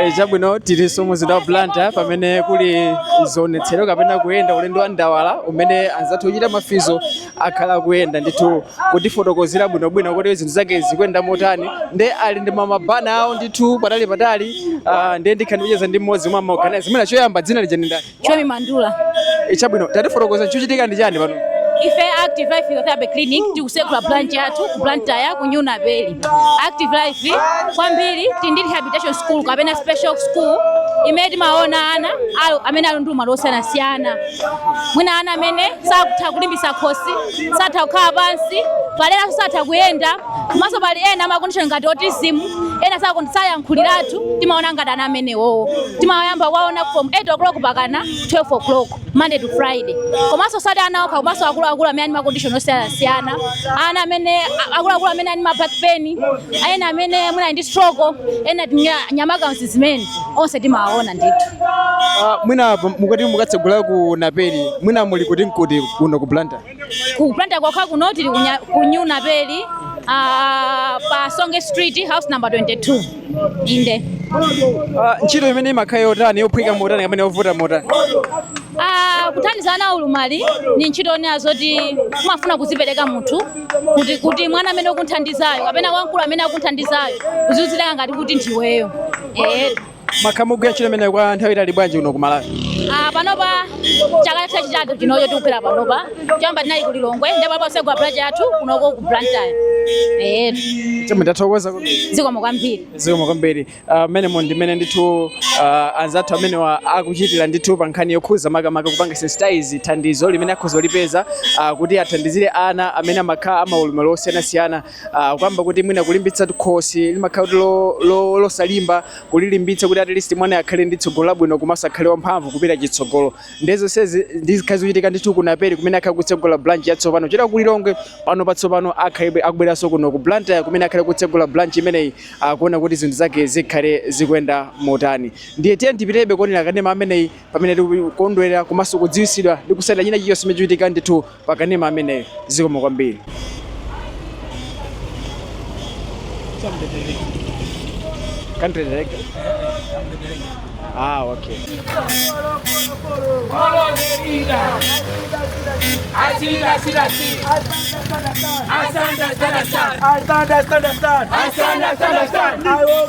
Eh, chabwino tiliso mu mzinda wa blantyre pamene kuli zionetsero kapena kuyenda ulendo wa ndawala umene anzathu ochita mafizo akhala kuyenda ndithu kutifotokozera bwinobwino kuti zinthu zake zikuyenda motani nde ali ndi mabana awo ndithu patali patali ah, ndiye ndikhala ndikucheza ndi mmodzi mwa maorganize mwina choyamba dzina lija ndi ndani Chomi Mandula. E chabwino, tatifotokoza chochitika ndi chani pano? Ife Active Life Physiotherapy Clinic tikusekula branch yathu ku Blantyre ku New Naperi. Active Life kwambiri tili ndi rehabilitation school kapena special school imene timaona ana aja amene ali ndi ulumali wosiyanasiyana. Mwina ana amene satha kulimbitsa khosi, satha kukhala pansi, pali enanso satha kuyenda. komanso pali ena ama condition ngati autism ena sakuti sayankhuliratu timaona ngati ana amenewo timayamba kuwaona from 8 o'clock pakana 12 o'clock monday to friday komanso osati ana okha komanso akuluakulu amene ali ndi ma condition osiyanasiyana ana amene a- akuluakulu amene ali ndi ma back pain ena amene mwina ali ndi stroke ena tinya- nyamakazi amene onse timawaona ndithu Ah, mwina apa mukati mukatsegula ku naperi mwina muli kuti ndi kuti kuno ku blantyre ku blantyre kwake kuno tili kunya- ku new naperi ah, pa songe street house number 22 inde Ah, ntchito imene imakhala yotani yophweka motani kapena yovuta motani Ah, kuthandiza ana aulumali ndi ntchito yonena zoti kumafuna kuzipereka munthu kuti kuti mwana amene ukumuthandizayo kapena wamkulu amene akumuthandizayo uzidziyika ngati kuti ndiweyo eh Mwakhala mukugwira ntchito imeneyi kwa nthawi yaitali bwanji kuno ku Malawi? Ah, panopa chaka chachitatu chinocho tikugwira panopa choyamba tinali ku Lilongwe ndipo apa tatsegula branch yathu kunoko ku Blantyre eh Chabwino ndathokoza kwambiri zikomo kwambiri zikomo kwambiri Ah, mmenemo ndimene ndithu ah, anzathu amenewa akuchitira ndithu pa nkhani yokhuza makamaka kupanga sensitize thandizo limene akhoza kulipeza ah, kuti athandizire ana amene amakhala amaulumali osiyanasiyana uh, kuyamba kuti mwina kulimbitsa khosi limakhala kuti lo- lo- losalimba kulilimbitsa kuti at least mwana akhale ndi tsogolo labwino komanso akhale wamphamvu kupita chitsogolo ndiye zonsezi ndi zimene zikhale zikuchitika ndithu kunaperi kumene akhale akutsegula branch yatsopano chifukwa ali kulilongwe pano posachedwapa akhale akubweranso kuno ku blantyre kumene akhale akutsegula branch imeneyi kuona kuti zinthu zake zikhale zikuyenda motani ndiye tiye tipitirizebe kuonera kanema ameneyi pamene tikukondwera komanso kudziwitsidwa ndi kutsatira china chilichonse chimene chikuchitika ndithu pa kanema ameneyo zikomo kwambiri country director ah okay Asanda, stand, stand, stand. I will